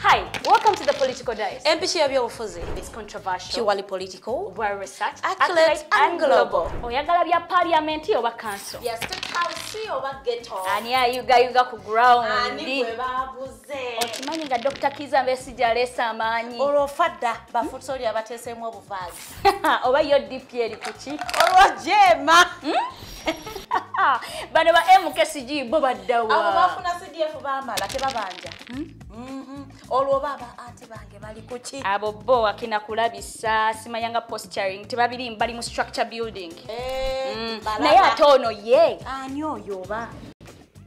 Hi, welcome to the Political Dice. Empty your byobufuzi. It's controversial. Purely political. Well researched. Accurate and global. Oyagala bya parliament oba council. Yes, to council oba ghetto. Ani ayuga yuga ku ground. Ani gwe babuze. Okimanyi nga Dr. Kiza Mbesi jalesa amaanyi. Olwo fadda bafutso lya batesemu obuvazi. oba yo dp eri kuki olwo jeema hmm? bano ba mkcg bo baddawa abo bafuna cdf bamala tebabanja hmm? mhm. olwoba aba anti bange bali kuki abo bo akina kulabisa simayanga posturing tebabiri bali mu structure building eh, hmm. naye ate ono ye ani oyo oba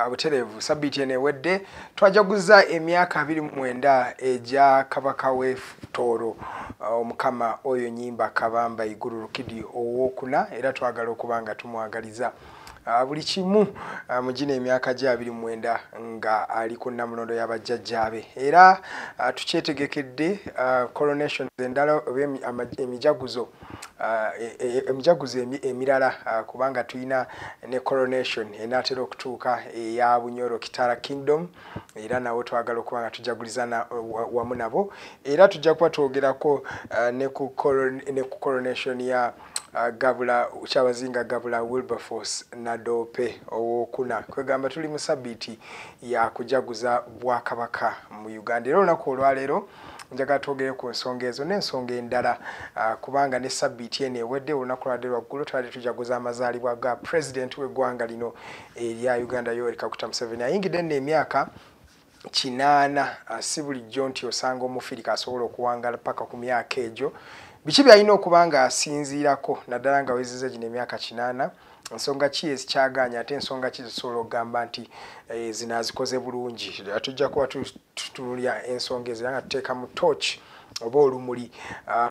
Ah, butereevu sabbiiti eno ewedde twajaguza emyaka abiri mu mwenda egya kabaka w'etooro ah, omukama oyo nyimba kabamba iguru rukidi owokuna era twagala okuba nga tumwagaliza ah, buli kimu mu gino emyaka gye abiri mu mwenda nga ali ku nnamulondo y'abajjajjaabe era tukyetegekedde coronations endala oba emijaguzo e Ah, e, e, e, emijaguzo emirala ah, kubanga tulina ne coronation enatera okutuuka eya bunyoro kitara kingdom era nawo twagala okuba nga tujaguliza wamu nabo era tujja kuba twogerako ah, ne ku coronation ya Ah, gabula kyabazinga gabula wilberforce nadoope owokuna kwegamba tuli mu sabiiti yakujaguza bwakabaka mu uganda era olunaku olwaleero njagala twogere ku nsonga ezo n'ensonga endala ah, kubanga ne sabbiiti eno ewedde olunaku lwadde lwaggulu twali tujaguza amazaalibwa ga pulezidenti w'eggwanga lino erya uganda yoweri kaguta museveni ayingidde nno emyaka kinaana ah, si bulijjo nti osanga omufirika asobola okuwangala paka ku myaka egyo biki byalina okuba nga asinziirako naddala nga weziza gino emyaka kinaana nsonga ki ezikyagaanya ate ensonga ki zisobola okugamba nti eh, zino azikoze bulungi tujja kuba tutunulira ensonga ezo era nga tuteeka mu tooki oba olumuli ah,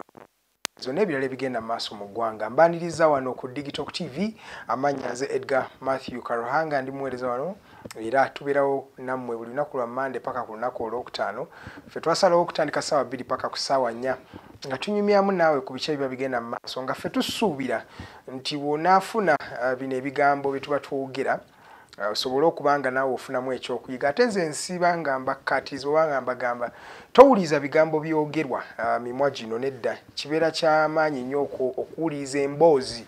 zonna ebirala ebigenda mu maaso mu ggwanga mbaniriza wano ku digital tv amannya nze edgar matthew karuhanga ndi muweereza wano era tubeerawo nammwe buli lunaku lwa mande paka ku lunaku olwokutaano ffe twasalawo okutandika saawa bbiri paka ku saawa nnya nga tunyumyamu naawe ku bikya biba bigenda mu maaso nga ffe tusuubira nti wonaafuna ah, bino ebigambo bye tuba twogera Ah, osobole okuba nga naawe ofunamu ekyokuyiga ate nze nsiiba nga mbakkaatiza oba nga mbagamba towuliza bigambo byogerwa ah, mimwa gino nedda kibeera kyamaanyi nnyo okuwuliza emboozi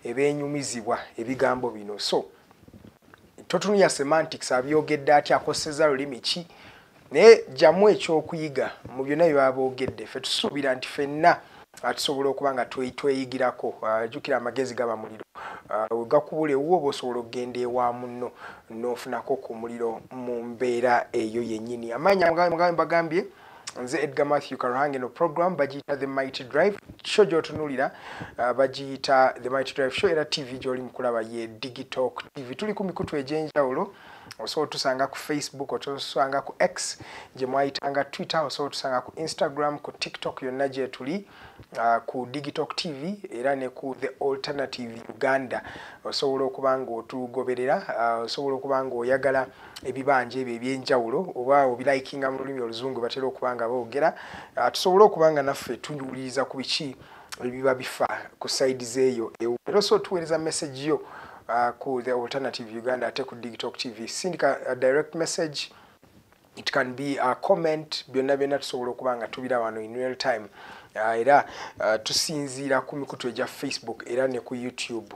ebeenyumizibwa ebigambo bino so totunuya semantics abyogedde aty akoseza lulimi ki naye jamu ekyokuyiga mu byonna byebaba boogedde fe tusuubira nti fenna ah, tusobola okuba nga tweyigirako ah, jukira amagezi gaba muliro ah, wegakubula ewuwo oba osobola okugenda ewa munno nofunako ku muliro mu mbeera eyo yennyini amaanyi amugambye bagambye nze edgar matthew karuhange no program bagiyita the mighty drive show gyotunulira uh, bagiyita the mighty drive show era tv gyoli mukulaba ye digitalk tv tuli ku mikutu egyenjawulo osobola otusanga ku facebook osobola otusanga ku x gye mwayitanga twitter osobola otusanga ku instagram ku tiktok yonna gyetuli uh, ku digitok tv era ne ku the alternative uganda osobola okuba nga otugoberera uh, osobola okuba nga oyagala ebibanja ebyo ebyenjawulo oba obilayikinga mu lulimi oluzungu batera okuba nga boogera uh, tusobole okuba nga naffe tuwuliriza ku biki biba bifa ku side zeyo ewo era so tuwereza message yo uh, ku the alternative uganda ate ku digitalk tv sindika uh, direct message it can be a comment byonna byonna tusobola okuba nga tubira wano in real time uh, era uh, tusinziira ku mikutu egya facebook era ne ku youtube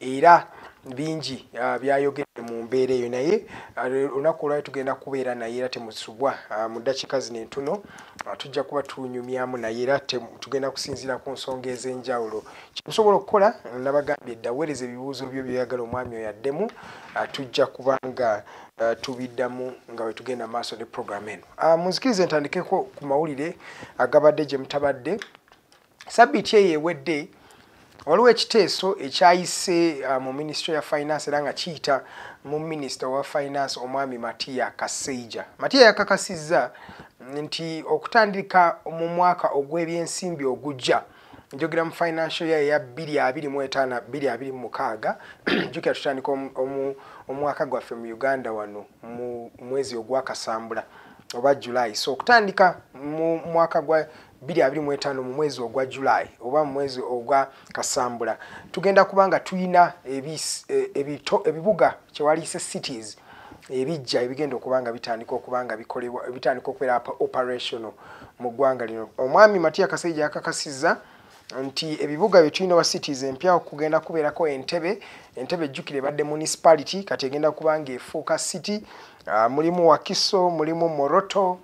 era bingi ah, byayogedde mu mbeera eyo naye ah, olunaku olwayo tugenda kubeera naye era temusubwa ah, mu ddakiika zino entuno tujja kuba tunyumyamu naye era tugenda kusinziira ku nsonga ez'enjawulo kyetusobola okukola nabagambye dda weereza ebibuuzo byo byoyagala omwami oyo addemu tujja kuba nga Eh, tubiddamu nga wetugenda maaso ne program eno ah, munzikiriza entandikeko ku mawulire agabadde gye mutabadde sabiti eyo ewedde waliwo ekiteeso ekyayise uh, mu minisitule ya finance era nga kiyita mu minisita owa finance omwami matiya kaseija matiya yakakasizza nti okutandika mu mwaka ogw'ebyensimbi ogujja njogera mu financial year ya 2256 jukira tutandika omwaka gwaffe mu uganda wano mu mwezi ogwakasambula oba july so okutandika mu mwaka gwa 25 mu mwezi ogwa July oba mu mwezi ogwa Kasambula tugenda kubanga tuyina ebito e, ebibuga kyewaliise cities ebijja ebigenda okubanga bitandika okubanga bikolebwa bitandika okubeera operational mu ggwanga lino omwami Matia Kasaija yakakasizza nti ebibuga bye tulina wa cities empya okugenda kubeerako entebe entebe ejjukire ebadde municipality kati egenda kubanga efuuka city uh, mulimu wakiso mulimu moroto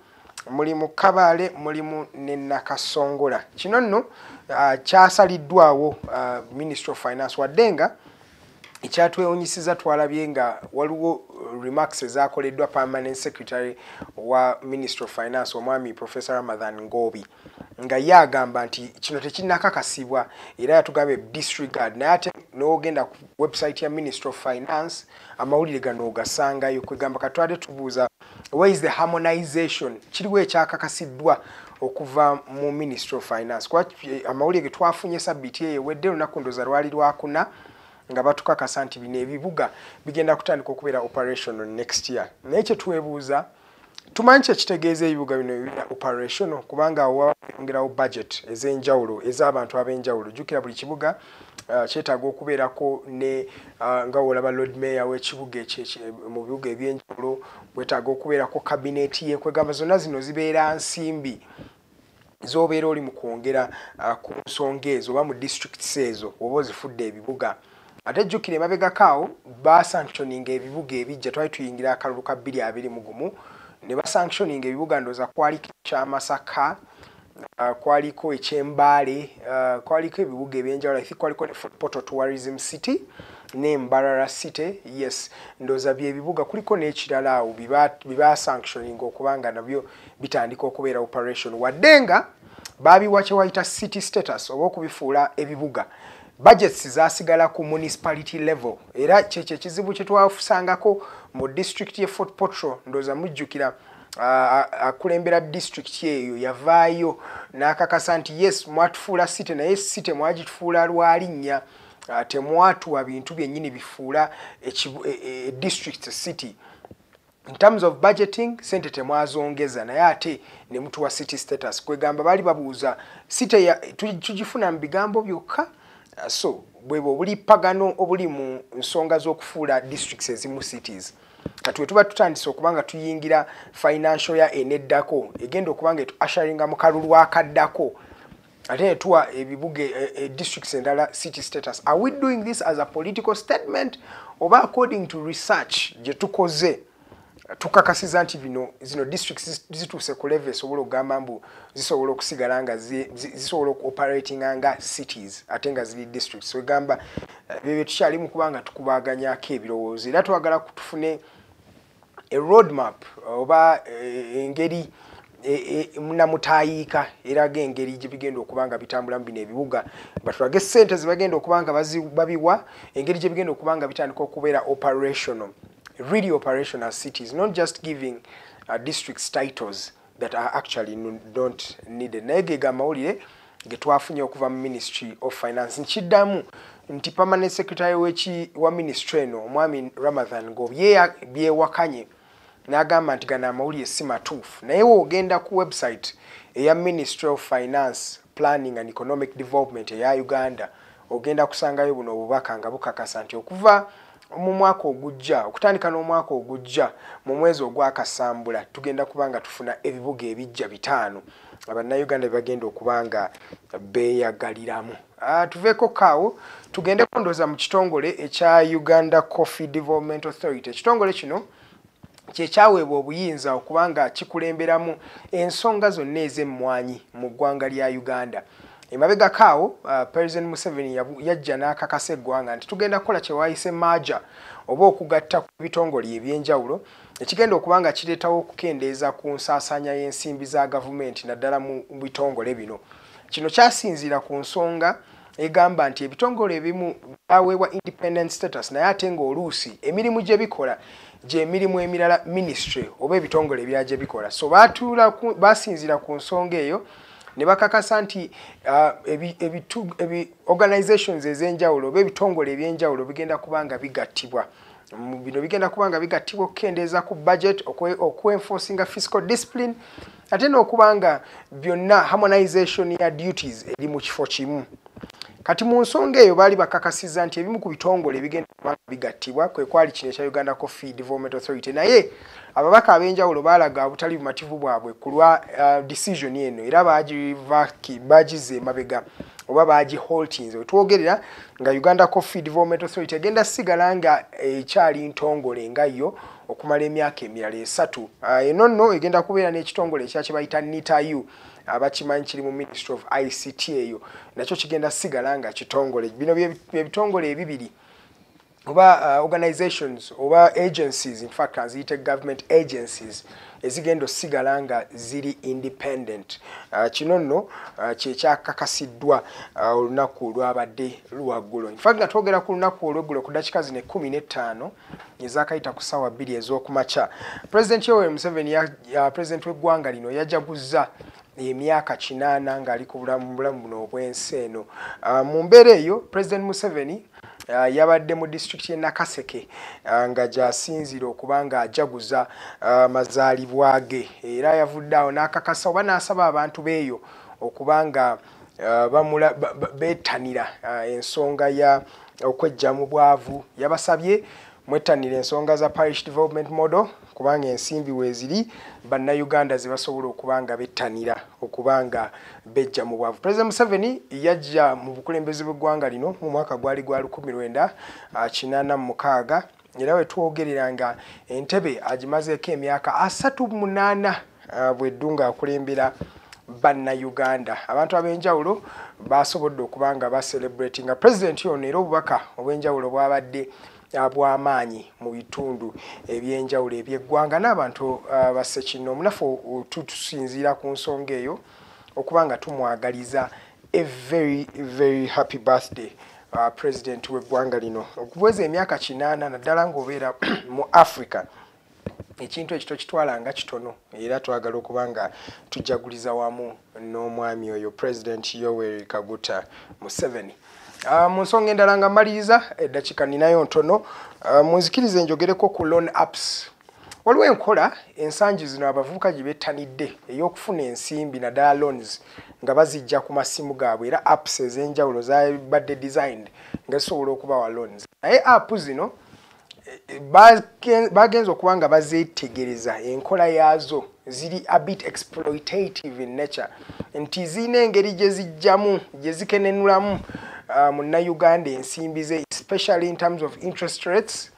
muli mu kabaale mulimu ne nakasongola kino nno uh, kyasaliddwawo uh, ministry of finance wadde nga ekyatwewunyisiza twalabye nga waliwo uh, remarks ezakoleddwa permanent secretary wa ministry of finance omwami professor ramadhan ngobi nga ye agamba nti kino tekinakakasibwa era yatugambye disregard naye ate nogenda ku website ya ministry of finance amawulire gano ogasangayo kwegamba katwade tubuuza where is the harmonization kiriwo ekyakakasiddwa okuva mu ministry of finance kuba eh, amawulire getwafunye sabiiti eyo ewedde olunaku ndoza lwali lwakuna nga batukakasa nti bino ebibuga bigenda kutandika okubeera operational next year naye kyetwebuuza tumanyi kyekitegeeza ebibuga bino ebira operational kubanga wayongerawo budget ez'enjawulo ez'abantu ab'enjawulo jjukira buli kibuga Uh, kyetaaga okubeerako ne uh, nga wolaba lord mayor w'ekibuga mu bibuga ebyenjawulo wetaaga okubeerako kabineeti ye kwegamba zonna zino zibeera nsimbi z'obeera oli mu kwongera uh, ku nsonga ezo oba mu districts ezo oba ozifudde ebibuga ate jjukira emabegako awo basanctioninga ebibuga ebijja twali tuyingira akalulu ka bbiri abiri mu gumu ne basanctioninga ebibuga ndooza kwali kyamasaka Uh, kwaliko ekyembaale uh, kwaliko ebibuga ebyenjawulo ithi kwaliko ne footpoto tourism city ne mbarara city yes ndoza byebibuga kuliko n'ekirala awo bibasanctioning okuba nga nabyo bitandika okubeera operation wadde nga baabiwa kyewayita city status oba okubifuula ebibuga budgets zasigala ku municipality level era kyekyo ekizibu kyetwafusangako mu district ye fort potro ndoza mujjukira akulembera disitulikiti eyo yavaayo n'akakasa nti yes mwatufuula site naye site mwagitufuula lwalinnya ah, temwatuwa bintu byennyini bifuula e, e, district city in terms of budgeting sente temwazongeza naye ate ne mutuwa city status kwegamba baali babuuza site tugifuna mu bigambo byokka ah, so bwebwo obulippagano obuli mu nsonga z'okufuula districts ezimu cities kati wetuba tutandise okuba nga tuyingira financial ya eneddako egenda okuba nga etuasharinga mu kalulu akaddako ate netuwa ebibuga e, e, districts endala city status are we doing this as a political statement oba according to research gye tukoze tukakasiza nti bino zino districts zituuse ku level esobola okugamba mbu zisobola okusigala nga zisobola okuoperatinga nga cities ate nga ziri districts wegamba ebyo bye tukyali mu kuba nga tukubaaganyako ebirowoozo era twagala kutufune e road map oba eh, engeri eh, eh, namutayiika eraga engeri gye bigenda okuba nga bitambulamu bino ebibuga batulage sente ze bagenda okuba nga babiwa engeri gye bigenda okuba nga bitandika okubeera operational really operational cities not just giving uh, districts titles that are actually not needed naye ge gamawulire getwafunye okuva mu ministry of finance nkiddamu nti permanent secretary weki wa ministry eno omwami ramadhan ngobyeya byewakanye n'agamba nti gano amawulire si matuufu naye woogenda ku website eya ministry of finance planning and economic development eya uganda ogenda kusangayo buno obubaka nga bukakasa nti okuva mu mwaka ogujja okutandika n'omwaka ogujja mu mwezi ogwakasambula tugenda kuba nga tufuna ebibuga ebijja bitaano abannayuganda bebagenda okuba nga beeyagaliramu ah, tuveeko kaawo tugende kundooza mu kitongole ekya uganda coffee development authority ekitongole kino kyekyaweebwa obuyinza okuba nga kikulemberamu ensonga zonna ez'emmwanyi mu ggwanga lya uganda emabegako awo uh, president museveni yajja n'akakasa eggwanga nti tugenda kukola kyewayise maaja oba okugatta ku bitongole ebyenjawulo ekigenda okuba nga kireetawo okukendeeza ku nsaasaanya y'ensimbi za gavumenti naddala mu bitongole bino kino kyasinziira ku nsonga egamba nti ebitongole ebimu byaweebwa independent status naye ate ng'oluusi emirimu gye bikola gy'emirimu emirala ministry oba ebitongole ebirala gye bikola so baatuula basinziira ku nsonga eyo ne bakakasa nti uh, ebitu ebi organizations ez'enjawulo oba ebitongole eby'enjawulo bigenda kuba nga bigattibwa bino bigenda kuba nga bigattibwa okukendeeza ku budget okuenforcinga fiscal discipline ate n'okuba nga byonna harmonization ya duties eri mu kifo kimu kati mu nsonga eyo baali bakakasiza nti ebimu ku bitongole ebigenda kuba bigattibwa kwe kwali kino ekya uganda coffee development authority naye ababaka ab'enjawulo baalaga obutali bumativu bwabwe ku lwa uh, decision eno era bagize emabega oba bagiholtinze wetwogerera nga uganda coffee development authority egenda sigala nga ekyali ntongole nga yo okumala emyaka emirala esatu ah, eno nno egenda kubeera n'ekitongole ekya kye bayita nitayu abakimanyi kiri mu ministry of ict eyo nakyo kigenda sigala nga kitongole bino byebitongole ebibiri oba uh, organizations oba agencies infact aziyite government agencies ezigenda osigala nga ziri independent uh, kino nno uh, kyekyakakasiddwa uh, olunaku lwabadde luwaggulo nfa nga twogera ku lunaku olweggulo ku dakika zino ekumi n'ettaano ezakayita ku ssaawa bbiri ez'okumakya pulezidenti yoweri museveni president w'eggwanga lino yajaguzza emyaka kinaana ng'ali ku bulamu bulamu buno obw'ensi eno ah, mu mbeera eyo president museveni ah, yabadde mu disitulikiti y'e nakaseke ah, nga gyasinziira okuba ng'ajaguza amazaalibwa ge era yavudde awo n'akakasa oba n'asaba abantu beeyo okuba nga bamula beetanira ensonga ya okwejja mu bwavu yabasabye mwettanira ensonga za parish development model kubanga ensimbi weeziri bannayuganda ze basobola okuba nga bettanira okuba nga bejja mu bwavu pulezidenti museveni yajja mu bukulembeze bw'eggwanga lino mu mwaka gwali gwa 1986 era we twogerera nga entebe agimazeeko emyaka 38 ah, bweddu ng'akulembera bannayuganda abantu ab'enjawulo basobodde okuba nga baserebratinga pulezidenti ono era obubaka obw'enjawulo bwabadde bw'amaanyi mu bitundu eby'enjawulo eby'eggwanga n'abantu uh, bassekinoomu naffe tutusinziira ku nsonga eyo okuba nga tumwagaliza a very very happy birthday uh, president w'eggwanga lino okuweza emyaka kinaana naddala ng'obeera mu africa ekintu ekyo tokitwala nga kitono era twagala okuba nga tujaguliza wamu n'omwami oyo president yoweri kaguta museveni ah, mu nsonga endala nga mmaliriza eddakiika ninayo ntono ah, munzikiriza enjogereko ku loan apps waliwo enkola ensangi zino abavubuka gye bettanidde ey'okufuna ensimbi naddala loans nga bazijja ku masimu gaabwe era apps ez'enjawulo zabadde designed nga zisobola okubawa loans naye app zino bagenze okuba nga bazetegereza enkola yaazo ziri abit exploitative in nature nti zirina engeri gye zijjamu gye zikenenulamu uh, munnayuganda ensimbi ze especially in terms of interest rates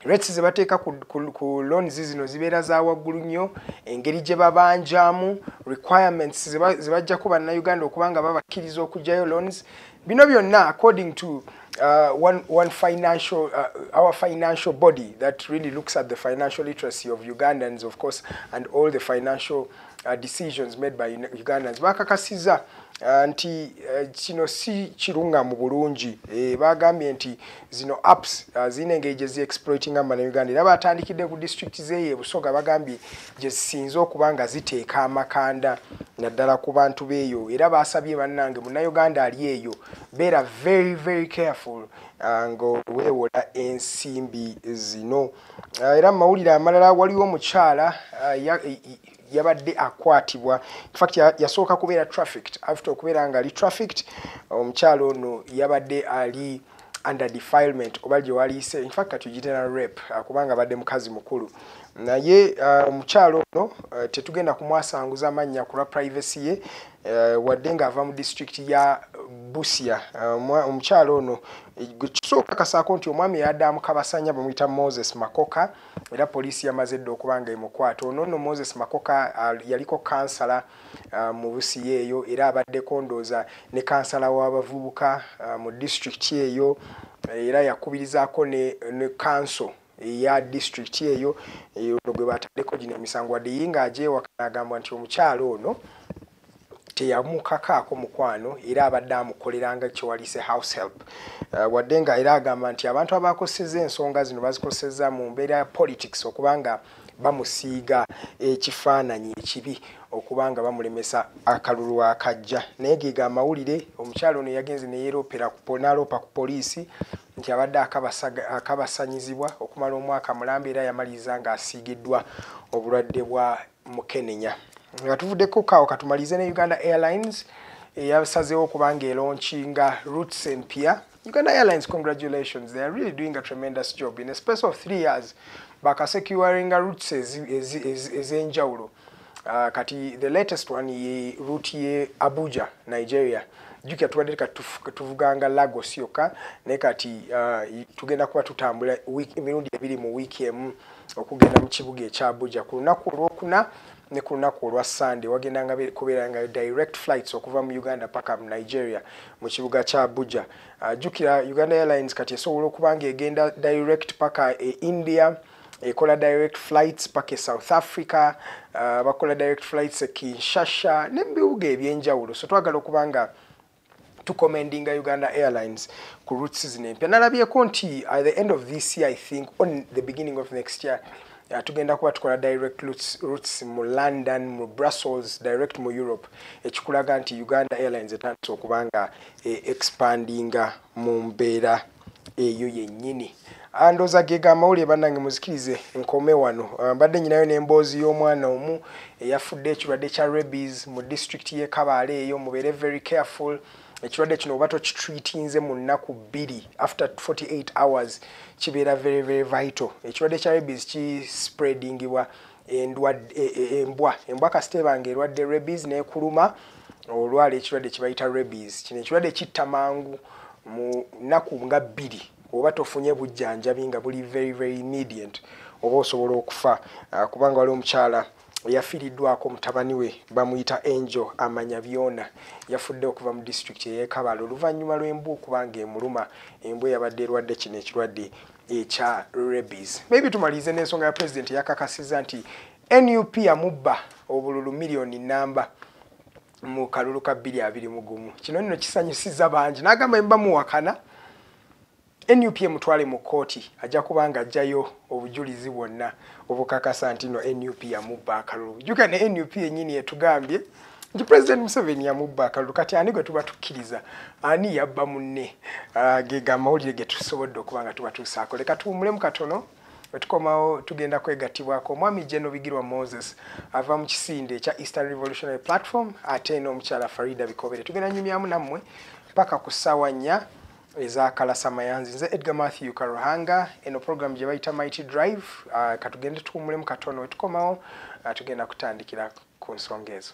rates ze bateeka ku, ku, ku loans zino zibeera za waggulu nnyo engeri gye babanjamu requirements ze bajjako bannayuganda okuba nga babakkiriza okugyayo loans bino byonna according to uh, one, one financial, uh, our financial body that really looks at the financial literacy of Ugandans, of course, and all the financial uh, decisions made by Ugandans. Bakakasiza uh, nti uh, kino si kirunga mu bulungi eh, bagambye nti zino apps uh, zine engeri gye zi exploitinga mu Uganda era batandikidde ku disitulikiti zeeyo e Busoga bagambye gyezisinze okuba nga ziteeka amakanda naddala ku bantu beeyo era baasabye bannange munnayuganda ali eyo beera very very careful uh, ngaweewola ensimbi zino uh, era mu mawulire amalala waliwo omukyala uh, yabadde akwatibwa infact yasooka kubeera trafficked after okubeera nga ali trafficked omukyalo ono yabadde ali under defilement oba gye waliise infact kati ogitera rep uh, kubanga abadde mukazi mukulu naye uh, omukyalo ono uh, tetugenda kumwasanguza mannya kulwa privacy ye wadde ng'ava mu district ya busia omukyalo ono kisooka kasaako nti omwami yadda mukabasanya bamuyita moses makoka era poliisi yamaze dda okuba nga emukwata ono nno moses makoka yaliko kansala uh, mu busiya eyo era abaddeko ndooza ne kansala w'abavubuka uh, mu disitulikiti eyo era yakubirizaako ne, ne kanso eya disitulikiti eyo ono gwe bataddeko gino emisango wadde ye ng'agyewaka n'agamba nti omukyala ono teyamukakaako mukwano era abadde amukoleranga kyewalise house help uh, wadde nga era agamba nti abantu abakoseza ensonga zino bazikoseza mu mbeera ya politics okubanga bamusiiga ekifaananyi ekibi okuba nga bamulemesa akalulu akajja naye geega amawulire omukyalo ono yagenze neyeroopanaloopa ku poliisi nti abadde akabasanyizibwa okumala omwaka mulamba era yamaliriza ng'asiigiddwa obulwadde bwa mukenenya nga tuvuddeko kaawo katumalize ne uganda airlines eyasazeewo okubanga eronkinga roots empya Uganda Airlines, congratulations. They are really doing a tremendous job. In a space of three years, baka securing a route says is in Jauro. Uh, kati the latest one ye route ye Abuja, Nigeria. You can tell ka tuvuganga Lagos yoka ne kati uh, tugenda kuba tutambula week mirundi ebiri mu week emu okugenda mu kibuga ekya Abuja ku lunaku olwokuna ne ku lunaku olwa Sunday wagendanga kubeeranga direct flights okuva mu Uganda paka mu Nigeria mu kibuga kya Abuja. Uh, jukira Uganda Airlines kati esobola okuba ng'egenda direct paka e India, ekola direct flights paka e South Africa, uh, bakola direct flights e Kinshasa ne mu bibuga eby'enjawulo. So twagala okuba nga tukomendinga Uganda Airlines ku routes zino empya. Nalabyeko nti at the end of this year I think on the beginning of next year Ah, tugenda kuba tukola direct routes mu london mu brussels direct mu europe ekikulaga nti uganda airlines etandise okuba nga eh, expandinga mu mbeera eyo yennyini ah, ndoza gega amawulire bannange muzikirize nkome wano ah, mbadde nyinayo n'emboozi y'omwana omu eyafudde ekirwadde kya rabies mu disitulikiti y'e kabaale eyo mubeere very careful ekirwadde kino oba tokitreatinze mu nnaku bbiri after 48 hours kibeera very very vital ekirwadde kya rabies kispreadingibwa e, e, embwa embwa kasita ebanga erwadde rabies nekuluma olwala ekirwadde kibayita rabies kino ekirwadde kitta mangu mu nnaku nga bbiri oba tofunye bujjanjabi nga buli very very immediate oba osobola okufa ah, kubanga wali omukyala yafiiriddwako mutabani we bamuyita angel amanya byona yafudde okuva mu disitulikiti eyekabala oluvannyuma lw'embwa okuba nga emuluma embwa yabadde erwadde kino ekirwadde ekya rebis maybe tumalirize n'ensonga ya pulezidenti yakakasiza nti nup yamubba obululu miliyoni namba mu kalulu ka bbiri abiri mugumu kino nno kisanyusiza bangi n'agamba emba muwakana nup emutwale mu kkooti ajja kuba nga ajjayo obujulizi bwonna obukakasa nti no nup yamubba akalulu jjuka ne nup yennyini etugambye nti pulezidenti museveni yamubba akalulu kati ani gwe tuba tukkiriza ani yabba munne ah, gega amawulire ge tusobodde okuba nga tuba tuusaako leka tuwumulemu katono wetukomawo tugenda kwegattibwako omwami geno bigirwa moses ava mu kisinde ekya eastern revolutionary platform ate n'omukyala farida bikobere tugenda nyumyamu nammwe paka ku ssaawa nnya eza kalasa mayanzi nze edgar matthew karuhanga eno program gye bayita mighty drive uh, katugende tuwumulemu katono wetukomawo uh, tugenda kutandikira ku nsonga ezo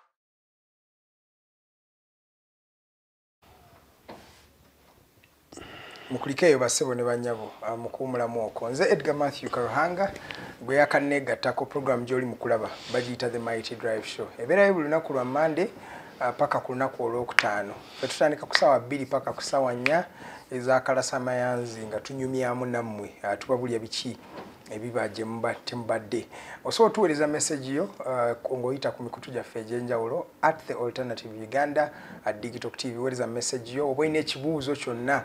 mukulikeeyo basebo ne banyabo ah, mukuwumulamu oko nze edgar matthew karuhanga gwe yakanneegattako puroguramu gy'oli mu kulaba bagiyita the mighty drive show ebeerayo buli lunaku lwa mande ah, paka ku lunaku olwokutaano fe tutandika ku saawa bbiri paka ku saawa nnya ezakalasa mayanzi nga tunyumyamu nammwe ah, tubabulya biki ebiba gye mubadde osobola otuweereza message yo uh, ng'oyita ku mikutu gyaffe egy'enjawulo at the alternative uganda at digital tv weereza message yo oba olina ekibuuzo kyonna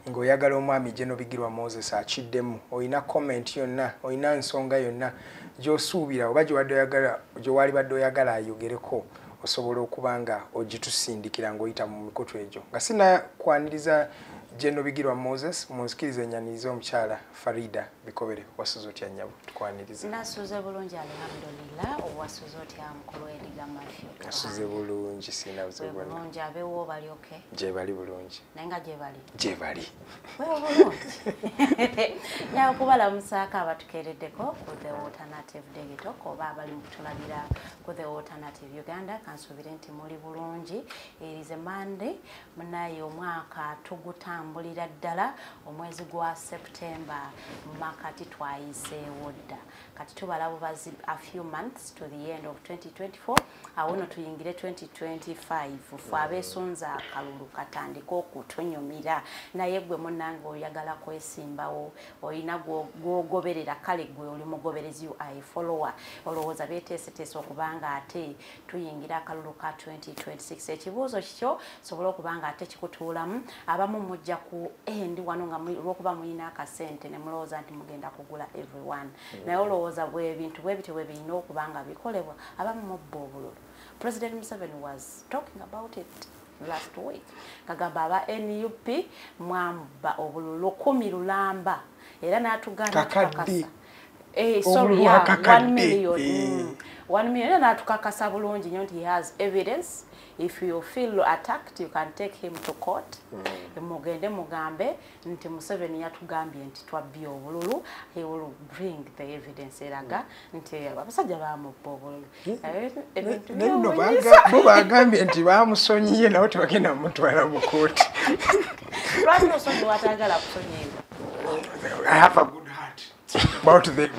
ng'oyagala omwami gyenobigirwa moses akiddemu olina comment yonna olina nsonga yonna gy'osuubira oba gyewaali badde oyagala ayogereko osobola okuba nga ogitusindikira ng'oyita mu mikutu egyo nga sinakwaniriza gyenobigirwa moses munzikiriza enyaniriza omukyala farida bikobere wasuze otya nyabo tukwaniriza nasuze bulungi alhamdulillah owasuze otya mukulu ediga mafyo nasuze bulungi sina buzibu bwona bulungi abewo bali oke gye bali bulungi naye nga gye bali gye bali wewo bulungi nyawo kubalamusaako abatukeereddeko ku the alternative degito koba abali mu kutulabira ku the alternative uganda kansuubire nti muli bulungi erize monday munaye omwaka tugutambulira ddala omwezi gwa september makati twayiseewo dda kati tubala bubazi a few months to the end of 2024 awo no tuyingire 2025 fe abesunza akalulu katandika okutunyumira naye gwe munange oyagala kwesimbawo olina gwogoberera kale gwe oli mugoberezi ui follower olowooza beteeseteesa okubanga ate tuyingira akalulu ka 2026 ekibuuzo kikyo sobola okuba nga ate kikutuulamu abamu mujja ku endi wano nga lwokuba mulina akasente ne mulowooza nti mugenda kugula everyone mm. naye olowooza bwebintu bwebityo bwe birina okuba nga bikolebwa abamu mubba obululu president museveni was talking about it last week kagamba aba nup mwamba obululu kumi lulamba era n'atugamba kakasa Eh, sorry, yeah, one million. Eh. Mm. One million. And that kakasa bulungi nyo he has evidence. If you feel attacked, you can take him to court. Mm. Mugende mugambe, nti Museveni ya tugambi nti tuwa biyo bululu. He will bring the evidence eraga. Mm. Nti wapasaja ba mbo bululu. bo bagambye nti bamusonyiye nawe tebagenda mumutwala mukooti I have a good heart about them.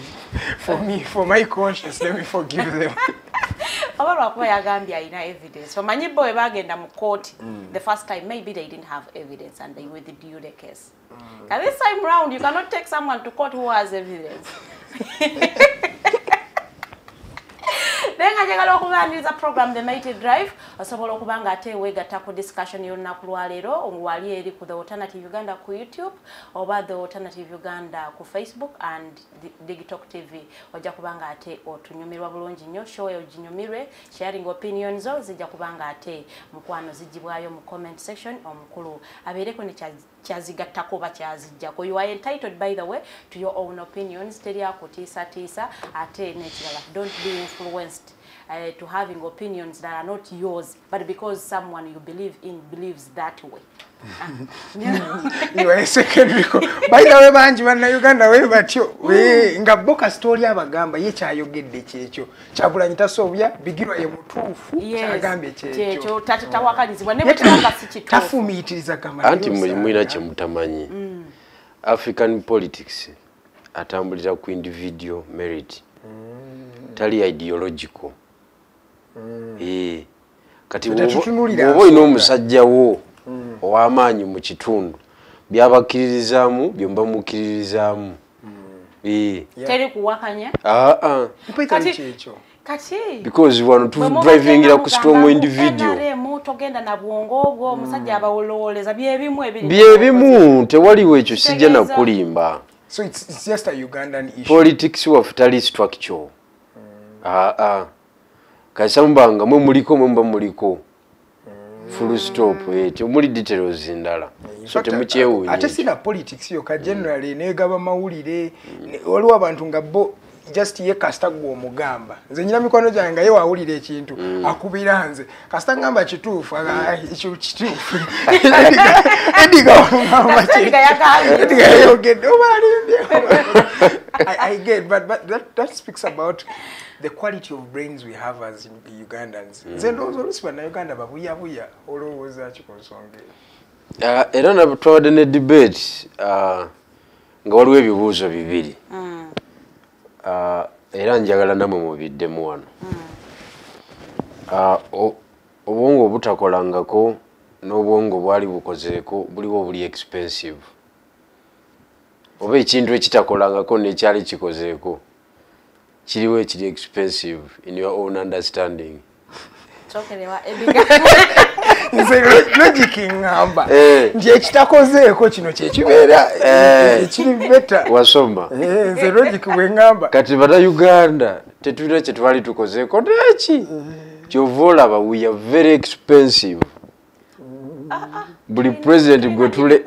For me, for my conscience, let me forgive them. oba lwakuba yagambye alina evidence omanyi bo webagenda mu kooti mm. the first time maybe they didn't have evidence and they withdrew the case And this time round, you cannot take someone to court who has evidence. naye nga njagala okubaniriza program the mighty drive osobola okuba nga ate weegatta ku discussion y'olunaku lwaleero wali eri ku the alternative uganda ku youtube oba the alternative uganda ku facebook and digitalk tv ojja kuba nga ate otunyumirwa bulungi nnyo show eyo ginyumirwe sharing opinion zo zijja kuba nga ate mukwano zigibwayo mu comment section omukulu abeereko ne kyazigattako oba kyazijjako you are entitled by the way to your own opinions teri akutiisatiisa ate nekirala don't be influenced uh, to having opinions that are not yours but because someone you believe in believes that way bayidawe bangi bannayuganda we batyo nga bo kasita oli abagamba ye kyayogedde kyekyo kyagulanyi tasobya bigirwa ye mutuufu kyagambye kyekyo tawakanyizibwa nebutanga sikituufu tafumiitiriza gamba anti mulina kyemutamanyi mm. african politics atambulira ku individual merit mm. tali ideological mm. ee eh. kati bwoba olina omusajja wo hmm. ow'amaanyi mu kitundu byabakkiririzaamu byomba mukkiririzaamu teri kuwakanya because wano tudrivingira ku strong individual byebimu tewaliwo ekyo sijja nakulimba politics waffe tali structure hmm. aa ah, ah. kasamba nga mwe muliko mwe muba muliko full stop eh, temuli details ndala so temukyewunya ate sina politics yo ka generally mm. negaba mawulire mm. waliwo abantu nga bo just ye kasita gwe omugamba nze nyina mikono gyange nga ye wawulira ekintu mm. akubira nze kasita ngamba kituufu ekyo kituufu edigayogedde obalimbye i get but, but that, that speaks about the quality of brains we have as ugandans mm. nze ndowooza olusi bannauganda babuyabuya olowooza ki ku nsonga eyo uh, era natwabadde ne debate uh, nga waliwo ebibuuzo bibiri mm. uh, era njagala namwe mubiddemu wano mm. obwongo obutakolangako n'obwongo bwali bukozeeko buliwo obuli expensive oba ekintu ekitakolangako nekyali kikozeeko kiriwo ekiri expensive in your own understanding nze logic ngamba eh. nti ekitakozeeko kino kyekibeera eh. ekiri beta wasoma eh, nze logic wengamba kati bana uganda tetulina kyetwali tukozeeko neki kyova olaba we are very expensive buli pulezidenti gwe tule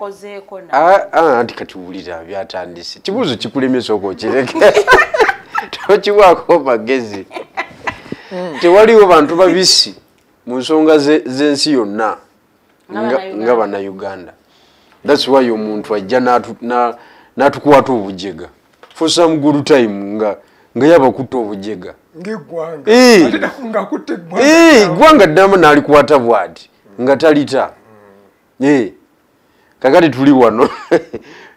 ah, ah, anti kati wulira byatandise kibuuzo kikulemesa oko okireke tokiwaako magezi hmm. tewaliwo bantu babisi mu nsonga z'ensi yonna nga banauganda thats wy omuntu ajja n'atukwata obujega for some good time nga nga yabakutte obujega ngegwanga eh. eh, gwanga ddamu nalikwata bwati nga talita mm. eh. kakati tuli wano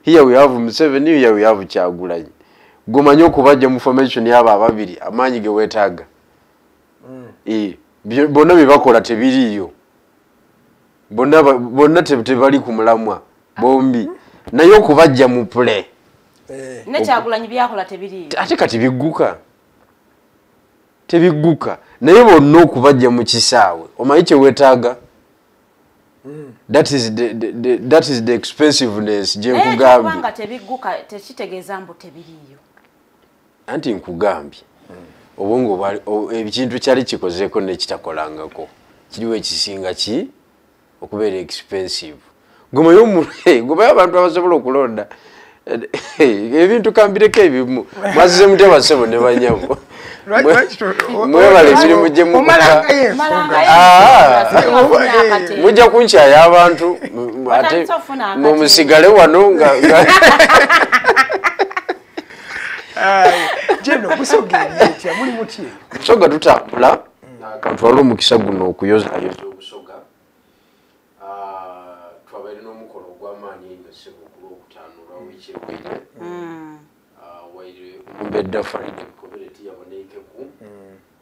here we have museveni here we have kyagulanyi gomanye okubajja mu formation yabo ababiri amaanyi gewetaaga mm. bonna byebakola tebiriiyo bonna bonna tebali ku mulamwa bombi naye okubajja mu pule eh. nekyagulanyi byakola tebiri ate kati bigguka tebigguka naye bonna okubajja mu kisaawe omanyi kyewetaaga hmm. that is the, the, the, that is the expensiveness gyenkugambye tebigguka tekitegeeza mbu tebiriyo anti nkugambye obwongo ekintu kyali kikozeeko nekitakolangako kiriwo ekisinga ki okubeera expensive gomayo gomayo abantu abasobola okulonda ebintu kambireko ebimu mwazize mutya basebo ne banyabo mwebale emirimu gye mujja ah. kunkyaya abantu ate mumusigale wano nga jeno musogeetya muli muty musoga tutambula twala omukisa guno okuyozayoza obusoga ah, twabaire n'omukono ogw'amaanyi enyo sebo ku lwokutaano olwa wiiki ewedde mm. ah, waire omumbedda faride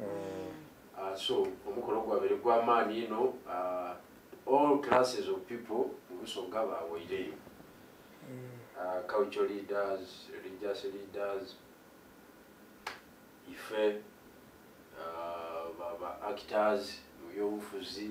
Uh, so omukolo gwabere gwamaani ino uh, all classes of people mubusoga bawaireyo mm. uh, culture leaders religious leaders ife uh, ba actors mubyobufuzi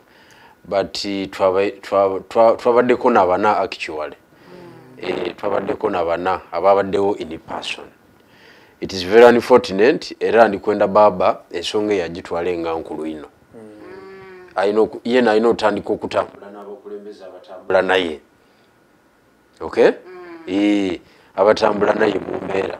but twabaddeko nabana actually mm. eh, twabaddeko nabana ababaddewo in person it is very unfortunate era ndikwenda baaba ensonga eyagitwala enga nkulu ino mm. yena alina otandika okutambula nabakulembeza abatambula naye okay mm. eh, abatambula naye mumbeera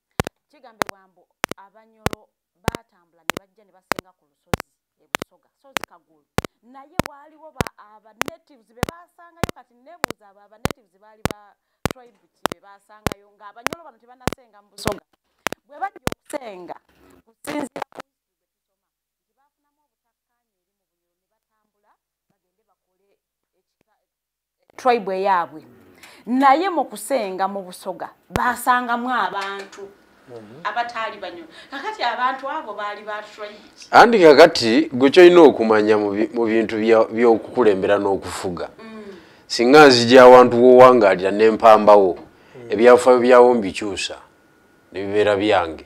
kigambibwa mbu abanyolo baatambula ne bajja ne basenga ku lusozi e busoga sozi kagulu naye waaliwo abanatives be baasangayo kati nebuuza abo abanatives baali ba tribe ki be baasangayo ng'abanyolo bano tebanasenga mu busoga bwe bajja okusenga kusinzira tribe eyaabwe naye mu kusenga mu busoga baasangamu abantu mhm. abataali banyo kakati abantu abo baali ba tribe andi kakati gwe kyolina okumanya mu bintu by'okukulembera n'okufuga mm. singa nzija awantu wowangaalira nempambawo mm. ebyafaayo byawo mbikyusa nebibeera byange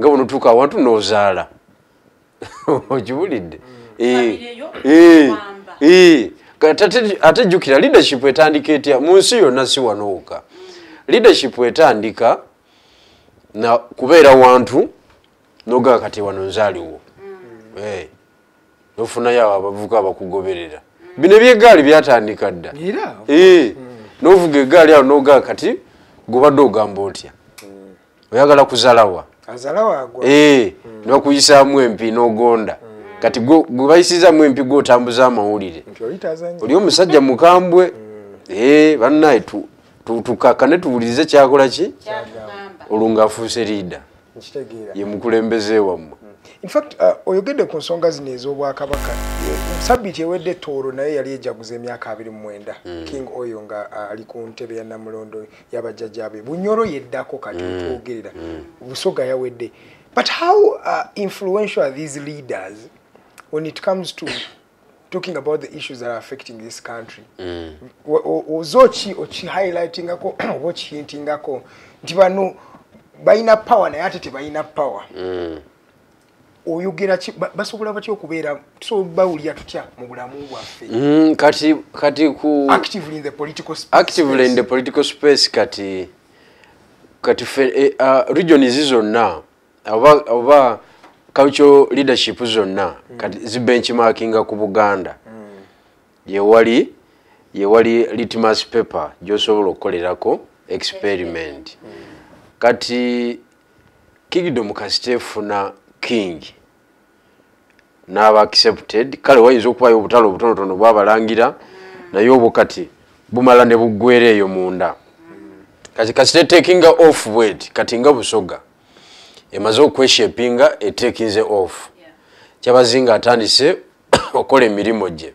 nga bwonotuuka awantu nozaala okiwulidde ate jjukira leadership etandika etya mu nsi yonna si wanooka leadership etandika na kubeera wantu nogaa kati wano nzaaliwo mm. eh, nofunayo abo abavuka abakugoberera mm. bino ebyegaali byatandika dda eh, mm. novuga egaali awo nogaa kati gobadde ogamba otya oyagala kuzalawa eh, hmm. nokuyisaamu empi nogonda hmm. kati gwebayisizamu empi gwotambuza amawulire oli omusajja mukambwe hmm. eh, banaye tukakane tuwulirize kyakola ki olwo ngaafuuse liida ye mukulembeze wammwe infact uh, oyogedde ku nsonga zino ez'obwakabaka sabiiti ewedde tooro naye yali ejaguza emyaka abiri mu mwenda king oyo nga uh, ali ku ntebe ya namulondo yabajjajabe bunyoro yeddako kati mm. twogerera mm. busoga yawedde but how uh, influential are these leaders when it comes to talking about the issues that are affecting this country mm. ozoki oki highlightingako oba okihintingako nti bano balina power naye ate tebalina power mm. oyogera ki basobola batya okubeera tusobola bawulira tutya mu bulamu bwaffe mm, kati kati ku actively in the political space actively in the political space kati kati fe eh, uh, region izi zonna oba oba cultural leadership zonna mm. kati zi benchmarkinga ku buganda mm. yewali yewali litmus paper gyosobola okukolerako experiment mm. kati kingdom kasita efuna king naaba accepted kale wayinza okubayo obutale obutonotono bwabalangira naye obwo kati bumala ne buggwera eyo munda kati kasita etekinga off bwet kati nga busoga emaze okweshepinga etekinze off kyabazinga atandise okola emirimu gye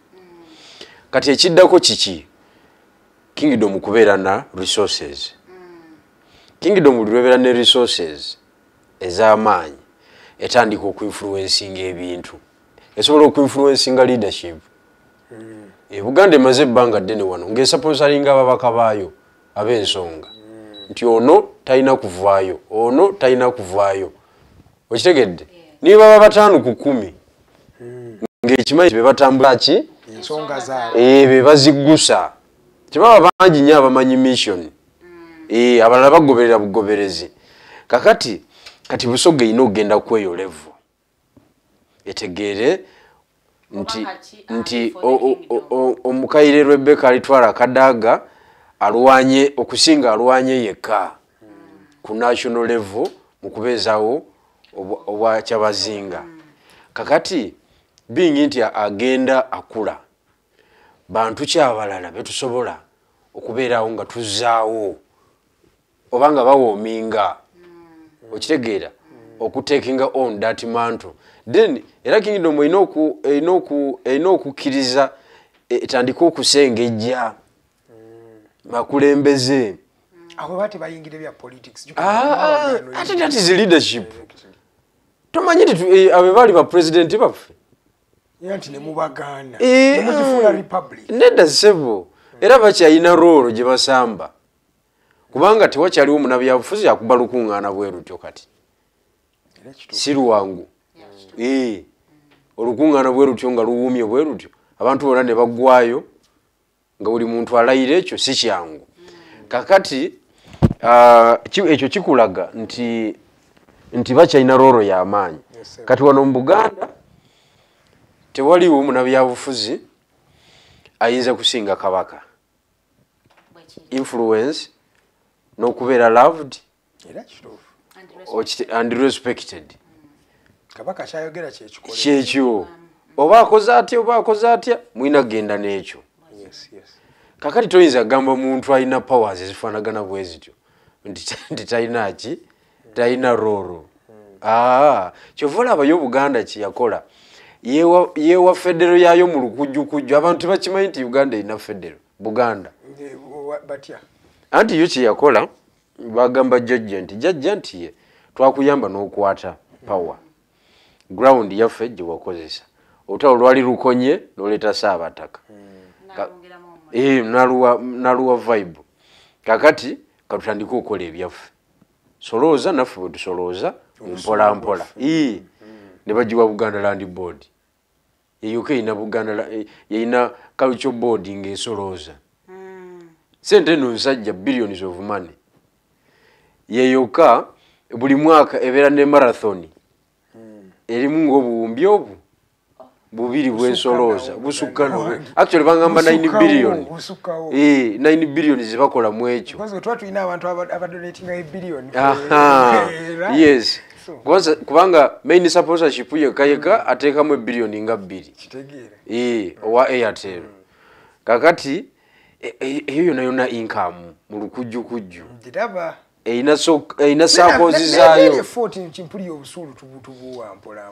kati ekiddako kiki kingdom kubeera na resources kingdom buli lwebeera ne resources ez'amaanyi etandika okuinfluencinga ebintu esobola okuinfluencinga leadership hmm. ebuganda emaze ebbanga ddene wano ngaesaponsalinga ababaka baayo ab'ensonga hmm. nti ono talina kuvaayo ono talina kuvaayo okitegedde niyo baba bataano ku kumi hmm. ngaekimanyi bebatambula ki eh, bebaziggusa tebaba bangi nyo abamanyi mission hmm. eh, abalala bagoberera bugoberezi kakati kati busoga erina okugenda kweyo levu etegeere nti nti omukaire rebeka alitwala kadaga alwanye okusinga alwanye yekka ku national level mu kubeezawo obwakyabazinga kakati bingi nti agenda akula bantu kyabalala betusobola okubeerawo nga tuzaawo oba nga bawoominga hmm. okitegeera okutekinga on dat mantle then era kingdom erina okukkiriza e, etandike okusengejja hmm. bakulembeze ate dat is leadership tomanyi nti eh, abe baali bapulezidenti baffe eh, nedda sebo era bakyalina roolo gye basamba kubanga tewakyaliwo munabyabufuzi akuba lukuŋŋaana bwe lutyo kati si lwangu ee olukuŋŋaana bwe lutyo nga luwuumye bwe lutyo abantu bona ne baggwayo nga buli muntu alayira ekyo si kyangu kakati ah, ekyo kikulaga nti nti bakyalina rooro y'amaanyi kati wano mu buganda tewaliwo munabyabufuzi ayinza kusinga kabaka influence n'okubeera loved era kituufu and respected mm. kabaka kyayogera kyekikole kyekyo oba akoze atya oba akoze atya mulina kugenda n'ekyo kakati toyinza kugamba muntu alina powers ezifaanagana bwe zityo nti talina ki talina rooro aa kyova olabayo obuganda kyeyakola yewa federo yayo mu lukujjukujju abantu bakimanyi nti uganda erina federo buganda anti yo kyeyakola bagamba jajja nti jajja nti ye twakuyamba n'okwata power ground yaffe gyewakozesa otalo lwali lukonye noleeta saabataka hmm. eh, naluwa vibe kakati katutandika okukola ebyaffe solooza naffe bwetusolooza mpola mpola ii nebagiwa buganda land board eyoka erina buganda eh, erina culture board ngaesolooza hmm. sente eno nsajja billions of money yeyoka buli mwaka ebeera ne marathon hmm. erimu ngaobuwumbi obwo bubiri bwensolooza busukka nowe actually bangamba 9 billion 9 eh, billion zebakola mu ekyo yes kubanga main supportership yekka yekka mm. ateekamu ebillioni nga bbiri eh, owa airtel mm. kakati e, e, eyo yona yona inkamu mu lukujjukujju erina sakozi zaayo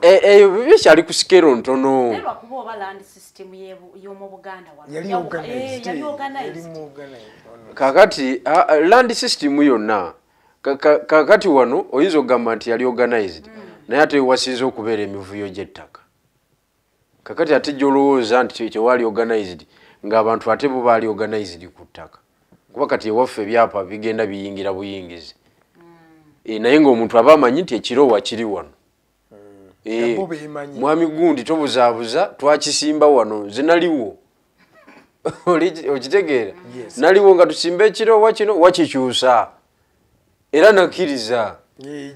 eh, eh, bibyo kyali ku sikero ntono kakati ah, ah, land system yonna kakati wano oyinza okugamba nti yali organized mm. naye ate wewasinza okubeera emivuyo gy'ettaka kakati ate gyolowooza nti tewali organized ngaabantu ate bo baali organized ku ttaka kuba kati ewaffe ebyapa bigenda biyingira buyingizi e, naye ngaomuntu aba amanyi nti ekiro wakiri wano e, mwami gundi tobuzaabuza twakisimba wano nze naliwo okitegeera naliwo nga tusimba ekiro wakino wakikyusa era nakkiriza eh,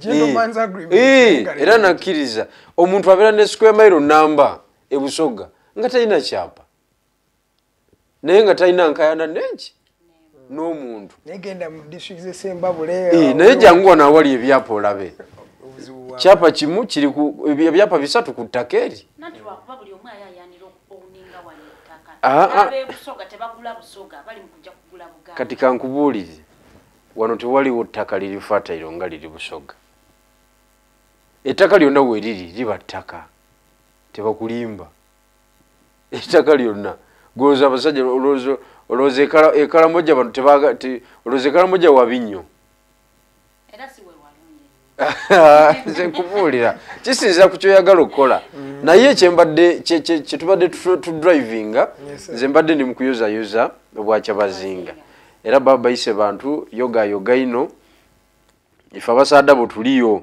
eh, era nakkiriza omuntu abeera ne square mile namba ebusoga nga talina kyapa naye nga talina nkayana nenki n'omuntu naye eh, jangu wano awali ebyapa olabe kyapa kimu kiri ebyapa bisatu ku ttaka eri ah, ah. kati kankubuulize wano tewaliwo ttaka liri fatayiro nga liri busoga ettaka lyonna weriri liba ttaka tebakulimba ettaka lyonna goza abasajja olowooza ekalamoja bantu olowooza ekalamoja wabi nnyo era si wewalungi nze nkubuulira kisinzira ku kyoyagala okukola mm. naye kyembadde kyetubadde tudrivinga nze mbadde ndi mukuyozayoza obwakyabazinga era baba bayise bantu yogayoga ino ife abasaada bwetuliyo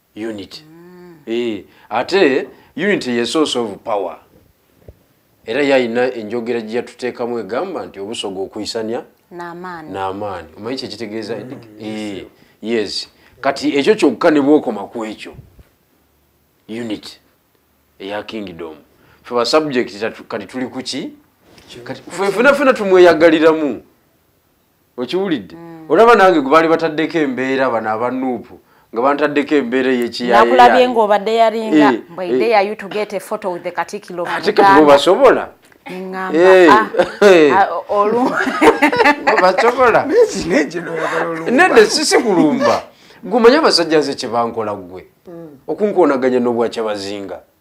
unity mm. e, ate unity ye source of power era yalina enjogera gye yatuteekamu egamba nti obusoga okuyisanya n'amaani omanyi kyekitegeeza mm. e, yes kati ekyo kyokka ne bwokoma ku ekyo unity eya kingdom fe ba subject kati tuli kuki kati fenafena tumweyagaliramu okiwulidde mm. olaba nange gwebaali bataddeko embeera bano abanuupu nga bantaddeko embeera eyekiyakulabye ngaobadde yalinga eh, mbwaide eh. yayutugete foto with the katikilo ate kati basobola basobola nedde sisi kulumba gumanye abasajja nze kyebankola ggwe mm. okunkonaganya n'obwakyabazinga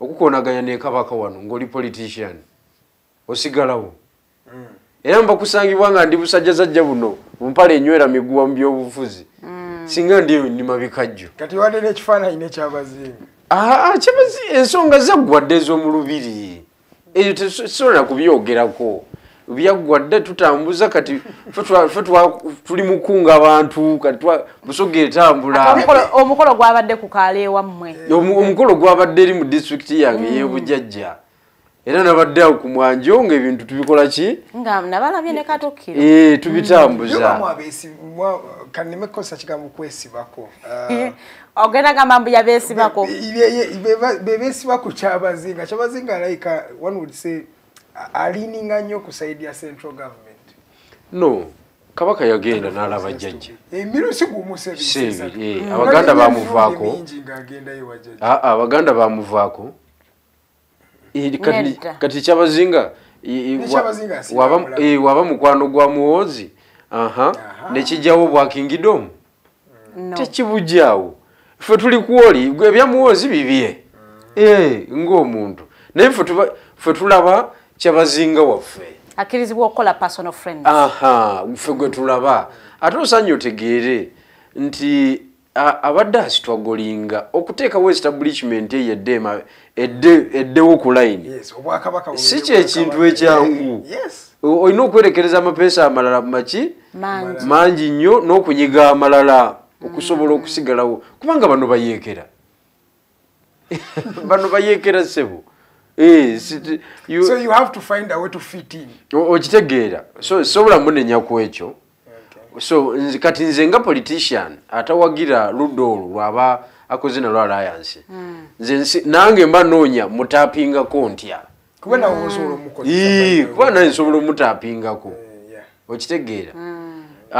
okukonaganya ne kabaka wano ngoli politician osigalawo mm. era mbakusangibwa nga ndi busajja zajja buno mumpale enywera miguwa mu byobufuzi mm. singa ndi nima bikajjo kati wadde nekifaananyi nekyabazinga aa kyabazi ensonga zaggwadde ez'omulubiri eyo tesobola kubyogerako byaggwa dda tutambuza kati fe tuli mukunga abantu kati busoga etambulaomukolo gwabadde ku kaala ewammwe omukolo gwabadde eri mu disitulikiti yange mm. yebujajja era nabadde awo ku mwanjo ngaebintu tubikola ki eh, tubitambuza ogenda gamba mbu yabesibako bebesiba ku kyabazinga kyabazinga alayika one would say alininga nnyo ku saidi ya central government no kabaka yagenda nalaba jjajja eh, abaganda bamuvaako ah, ah, abaganda bamuvaako eh, kati kyabazinga eh, waba mukwano gwa muwoozi nekijjawo obwakingidomu tekibujaawo ffe tuli kwoli gwe ebyamuwoozi bibye mm. eh, ngaomuntu naye ffe tulaba kyabazinga waffe akirizibwa okukola personal friend aha ffe gwe tulaba ate osanye otegeere nti abadde asitwagolinga okuteekawo establishment eyo edde eddewo ku layini si kyekintu ekyangu olina okwerekereza amapeesa amalala maki mangi nnyo n'okunyiga amalala okusobola mm. okusigalawo kubanga bano bayeekera bano bayeekera ssebo eh, okitegeera sobola munenya ku ekyo so nzi, kati nze nga politician atawagira ludda olwo lwaba akoze nalwo alliance mm. nze nange mba noonya mutapingako ntya kuba naye nsobola omutapingako eh, okitegeera mm. uh,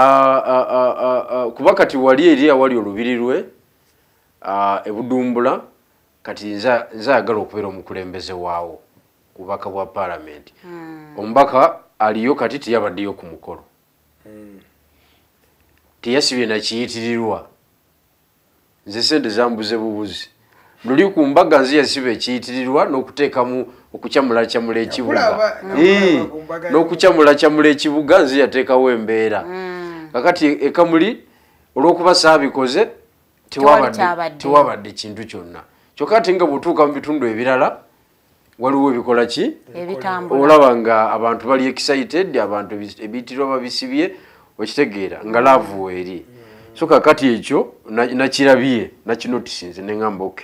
uh, uh, uh, uh, kuba kati wali eri awali olubiri lwe uh, ebudumbula kati nze ayagala okubeera omukulembeze waawo kubaka bwa palamenti hmm. omubaka aliyo kati teyabaddeyo ku mukolo hmm. teyasibye nakiyitirirwa nze sente zambuze bubuzi luli ku mbaga nze yasiba ekiyitirirwa n'okuteekamu okukyamulakyamula ekibuga hmm. n'okukyamulakyamula ekibuga nze yateekawo embeera kakati ekamuli olw'okuba saabikoze tewabadde kintu kyonna kyokka ate nga bwotuuka mu bitundu ebirala waliwo ebikola ki olaba nga abantu bali excited abantu ebiitirwa babisibye okitegeera nga laavu weeri so kakati ekyo nakirabye nakinotisinze neŋamba ok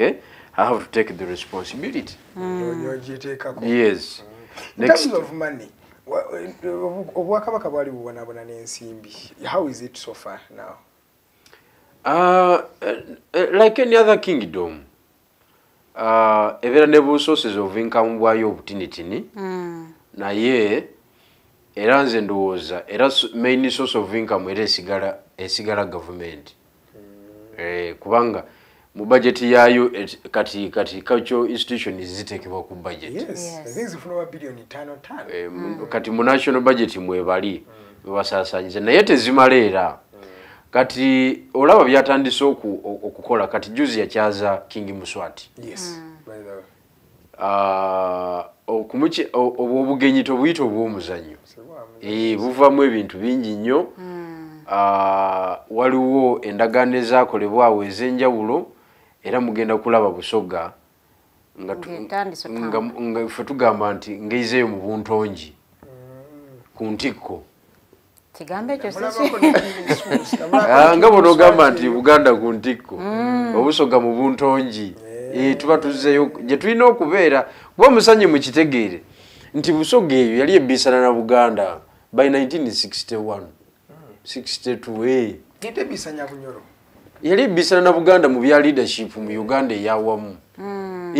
i have to take the responsibility mm. yes obwakabaka bwali bubonabona n'ensimbi how is it so far now Uh, uh, like any other kingdom uh, ebeera ne busources of income bwayo obutinitini mm. naye era nze ndowooza era main source of income era esigala esigala gavumenti mm. eh, kubanga mu budget yayo kati kati cultural institution zitekebwa ku budget yes. Yes. Yes. Eh, mm. kati mu national budget mwebali mm. basasanyiza naye tezimala era mm. kati olaba byatandise okukola kati juzi yakyaza king muswati yes. mm. Ah, obwo obugenyi tobuyita obw'omuzannyo eh, buvamu ebintu bingi nnyo hmm. ah, waliwo endagaano ezakolebwa awo ez'enjawulo era mugenda kulaba busoga nga fe tugamba nti ngeizeeyo mu buntongi hmm. ku ntikko kigambo ekyo ah, nga bona ogamba nti buganda ku ntikko mm. obusoga mu buntongi eh. Eh, tuba tuzeyo gye tulina okubeera kuba omusanyi mu kitegeere nti busoga eyo yali ebiisana na buganda by 1961 62 yali ebiisana na buganda mu bya leadership mu uganda eyawamu mm.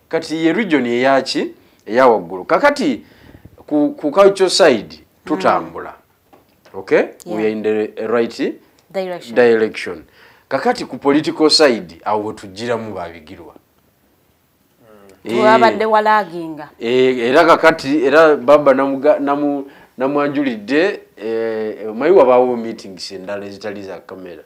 kati ye region eyaki eyawaggulu kakati ku, ku culture side tutambula mm. okay yeah. we are in the right direction, direction. kakati ku political side awo wetujjiramu babigirwa mm. twabadde eh. walaginga eh, era kakati era baba namwanjulidde eh, mayi wabaawo meetings endala ezitali za kamera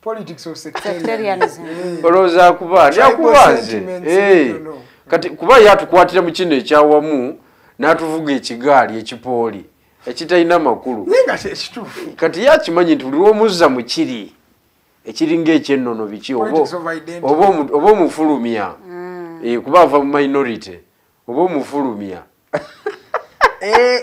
politics of sectarianism eh. oloza kuba ya kuba nze eh kati kuba ya tukwatira mu kino ekyawamu natuvuga ekigali ekipooli ekitayina makulu ninga se kitufu kati ya kimanyi nti uliwo muzza mu kiri ekiringa ekyennono biki obo obo obo mufulumya mm. eh kuba ava mu minority oba omufulumya eh,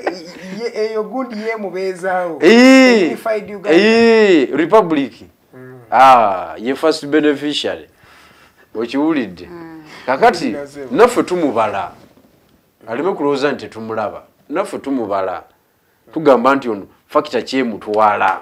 eyo gundi yemubeezaawo eh, eh, republic mm. ah, ye first beneficiary okiwulidde mm. kakati naffe tumubala aleme kulowooza nti tumulaba naffe tumubala tugamba nti ono fakita kyemutwala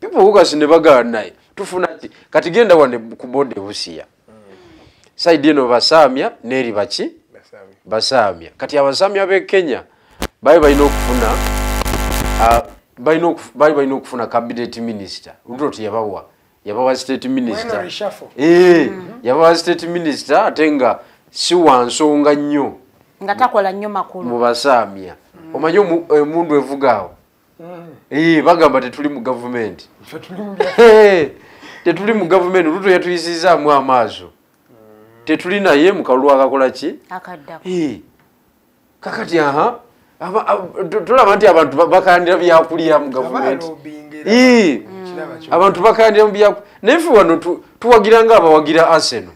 people who kasi ne bagala naye tufuna ki kati genda wande ku boda ebusiya saidi eno basaamya neeri baki basaamya kati abasaamya b'e kenya bali balina okufuna bali balina okufuna cabinet minister luto teyabawa yabawa state minister eh, mm-hmm. yabawa state minister ate nga si wa nsonga nnyo nga takola nnyo makulu mu basaamya mm. omanyi emundu eh, evugaawo Eh, bagamba tetuli mu gavumenti eh, tetuli mu gavumenti luto yatuyisizaamu amaaso tetuli naye mukalulu akakola ki eh, kakati aha tulaba nti abantu bakandira byakulya mu gavumenti abantu bakandira mu byakulya naye fe wano tuwagira nga abawagira aseno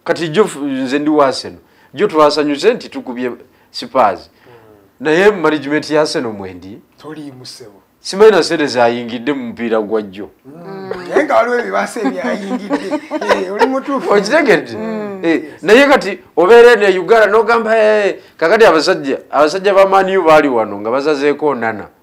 kati jo nze ndi waseno jo twasanyuse nti tukubye sipazi hmm. naye management ya seno mwendi tolimusebo simanyi nasente zayingidde mu mupiira gwa jjo hmm. naye nga waliwo ebibasa ebyayingidde eh, oli mutuufu okitegedde hmm. eh, naye kati obeere ne uganda nogamba eh, kakati abasajja abasajja bamaniyo baali wano nga bazazeeko nana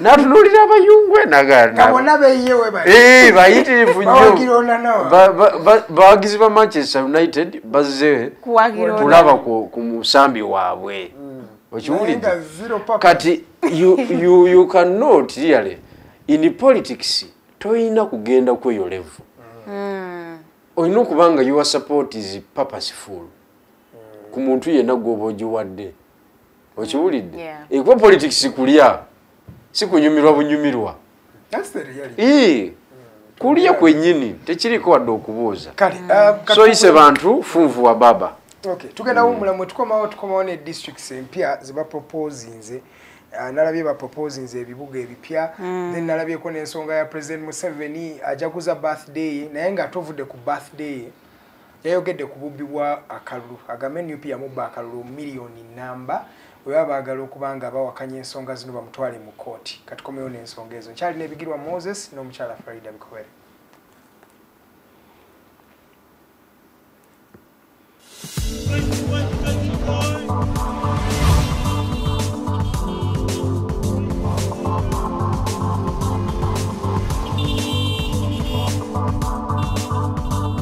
natunulira abayungwe naganbayitirivu eh, nyobawagizi ba manchester united bazze kulaba ku musambi waabwe hmm. okiwulidde kati you cannot really in politics toyina kugenda kweyo levu hmm. olina okuba nga your support is purposeful hmm. ku muntu yenna gwoba ogiwadde okiwulidde ekuba politics kulya sikunyumirwa bunyumirwa kulya kwenyini tekiriko wadde okubuuza uh, soyise bantu funvu wa baba okay tugenda wumula mwe tukomawo tukomawo ne districts empya ziba proposinze ah, nalabye ba proposinze ebibuga ebipya mm. then nalabyeko n'ensonga ya president museveni ajaguza birthday naye nga tovudde ku birthday yayogedde ku bubbi bwa akalulu agambe nup yamubba akalulu miliyoni namba weba baagala okuba nga bawakanya ensonga zino bamutwale mu kooti katikomewo n'ensonga ezo nkyali nebigirwa moses n'omukyala farida bikowere